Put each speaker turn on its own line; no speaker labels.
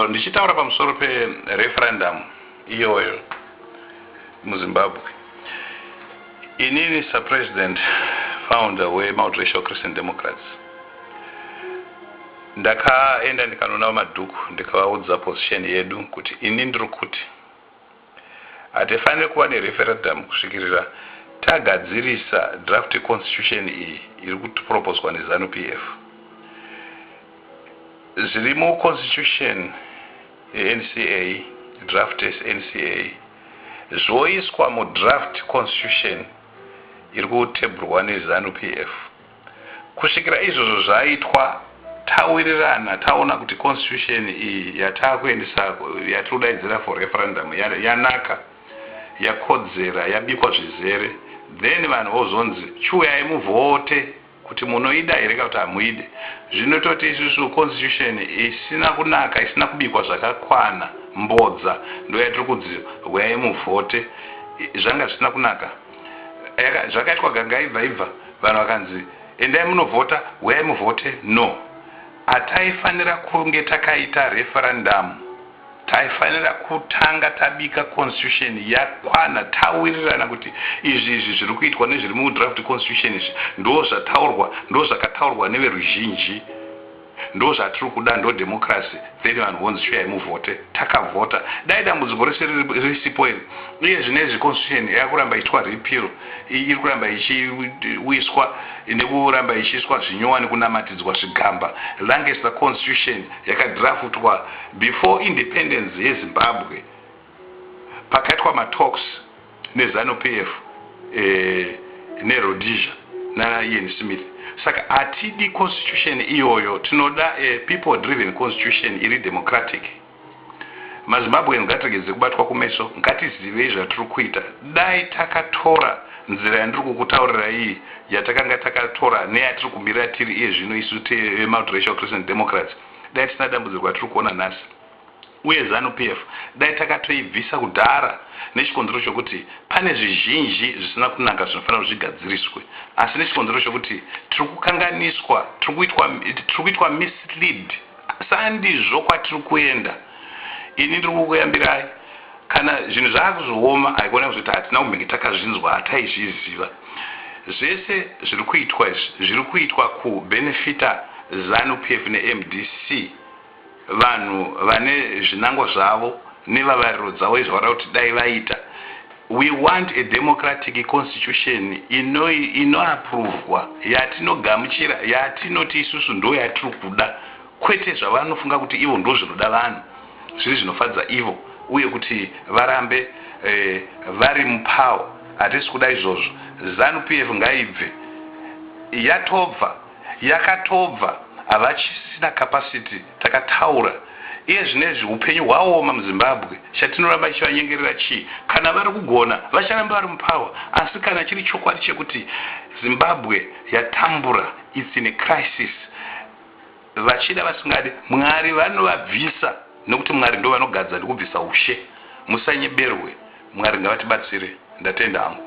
Ndichitaura pamusoro pereferendum iyoyo muZimbabwe, inini saPresident founder weMultiracial Christian Democrats ndakaenda ndikanoona VaMadhuku ndikavaudza position yedu kuti ini ndiri kuti Hatifanire kuva nereferadhamu kusvikirira tagadzirisa draft yeConstitution iyi iri kuproposwa neZanu PF. Zviri muConstitution yeNCA, draft yeNCA, zvoiswa mudraft Constitution iri kutebhurwa neZanu PF. Kusvikira izvozvo zvaitwa, tawirirana taona kuti constitution iyi yatakuendesa yatiri kudaidzira for referendum yanaka, yakodzera, yabikwa zvizere then vanhu vozonzi chiuyai muvhote kuti munoida here kana kuti hamuide. Zvinototi isusu constitution isina kunaka, isina kubikwa zvakakwana, mbodza ndoyatiri kudziwa huyai muvhote, zvanga zvisina kunaka. Yaka, zvakaitwa gangaibva ibva vanhu vakanzi endai munovhota huyai muvhote no ataifanira kunge takaita referendamu taifanira kutanga tabika constitution yakwana tawirirana kuti izvi izvi zviri kuitwa nezviri mudraft constitution izvi ndo zvataurwa ndo zvakataurwa neveruzhinji Ndozvatiri kuda ndo democracy then vanhu vonzi shuyayi muvhote takavhota dai dambudziko rese risipo iri iye zvinezvi constitution yakuramba ichitwa repeal iri kuramba ichiwiswa nekuramba ichiiswa zvinyowa nekunamatidzwa zvigamba longest the constitution yakadraftwa before independence yezimbabwe pakaitwa matalks neZanu PF neRhodesia naIan Smith saka hatidi constitution iyoyo tinoda a people driven constitution iri democratic. MaZimbabwean ngatiregedze kubatwa kumeso ngatizivei zvatiri kuita dai takatora nzira yandiri kukutaurira iyi yatakanga takatora neyatiri kumira tiri iye zvino isu teveMultiracial Christian Democrats dai tisina dambudziko ratiri kuona nhasi. uye Zanu PF dai takatoibvisa kudhara nechikonzero chokuti pane zvizhinji zvisina kunaka zvinofanira kuti zvigadziriswe asi nechikonzero chokuti tiri kukanganiswa, tiri kuitwa mislead sandizvo kwatiri kuenda. Ini ndiri kukuyambirai kana zvinhu zvaakuzooma haikona kuzoti hatina kumbenge takazvinzwa hataizviziva. Zvese zviri kuitwa izvi zviri kuitwa kubenefita Zanu PF neMDC. Vanhu vane zvinango zvavo nevavariro dzavo izvo vanoda kuti dai vaita. We want a democratic constitution inoapruvhwa, yatinogamuchira, yatinoti isusu ndo yatiri kuda kwete zvavanofunga kuti ivo ndo zvinoda vanhu zviri zvinofadza ivo uye kuti varambe eh, vari mupower. Hatisi kuda izvozvo. Zanu PF ngaibve. Yatobva. yakatobva havachisina capacity takataura iye zvinezvi hupenyu hwaoma muzimbabwe chatinoramba ichivanyengerera chii kana vari kugona vacharamba vari mupower asi kana chiri chokwadi chekuti zimbabwe yatambura its in a crisis vachida vasingadi mwari vanovabvisa nekuti mwari ndo vanogadza nekubvisa ushe musanyeberwe mwari ngavatibatsire ndatenda hangu